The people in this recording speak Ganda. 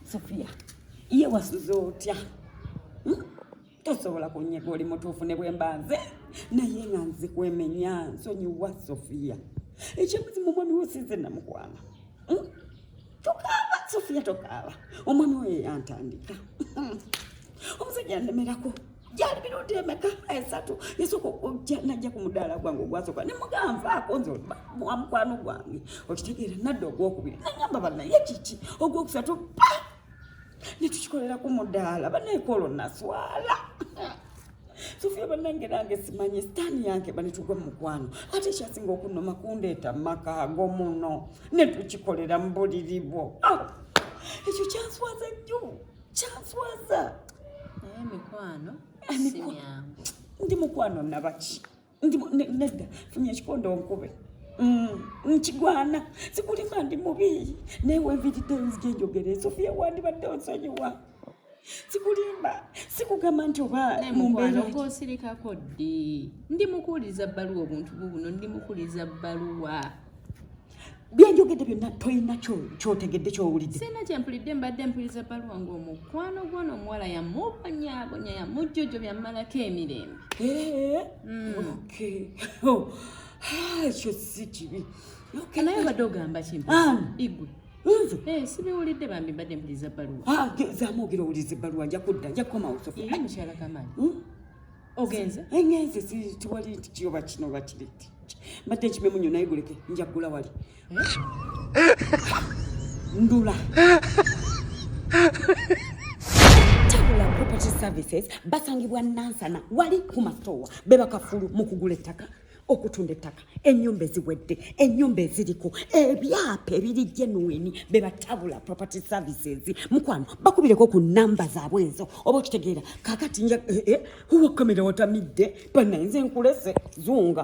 Sofia, iye wasuze otya? Hmm? Tosobola kunyega oli mutuufu ne bwe mba nze naye nga nze kwemenya nsonyiwa Sofia. Ekyebuzi mu mwami wosize namukwana. Hmm? Tokaaba Sofia tokaaba. Omwami we yantandika. Omusajja andemerako. gyali mirundi emeka esatu yesooka okujja najja ku mudaala gwange ogwasooka ne muganva akonze wa mukwano gwange okitegeera nadda ogwokubiri nagamba banaye kiki ogwokusatu pa ne tukikolera ku mudaala banaekolo naswala sofia banange nange simanyi sitaani yange banetugwa mu mukwano ate ekyasinga okunoma kundeeta mu maka ago muno ne tukikolera mu buliri bwo ah! ekyo kyanswaza nnyo kyanswaza naye mikwano si myangu ndi mukwano nabaki nedda funya ekikondo nkube mm, nkigwana sikulima ndi mubi naye wenviridde nzija enjogere sofiya wandibadde onsonyiwa sikulimba sikugamba nti oba mumbeeraosirikako ddi ndi mukuwuliza bbaluwa obuntu bubuno ndi mukuwuliza bbaluwa byenjogedde byonna tolina kyotegedde kyowulidde sina kyempulidde mbadde mpuliriza baluwa nga omukwano gwona omuwala yamubonyabonya yamujjojo byamalako emirembe eh, hmm. oh, ah, ekyo si kibi naye obadde ogamba kimpu igwe nze eh, sibiwulidde bambi mbadde mpuliriza baluwa ah, zamwogera owuliriza ebbaluwa nja kudda nja kukomawo sofi mukyala kamaani hmm? ogenze engenze tiwali nti kiyoba kino oba kiri ti mbadde nkimemu nyo naye guleke nja kugula wali ndula tabula property services basangibwa nansana wali kumatowa bebakafulu mu kugula ettaka okutunda ettaka enyumba eziwedde enyumba eziriko ebyapa ebiri genuini bebatabula property services mukwano bakubireko ku namba zaabwe enzo oba okitegeera kakati nja eh, eh, wakamera watamidde banaenze nkulese zunga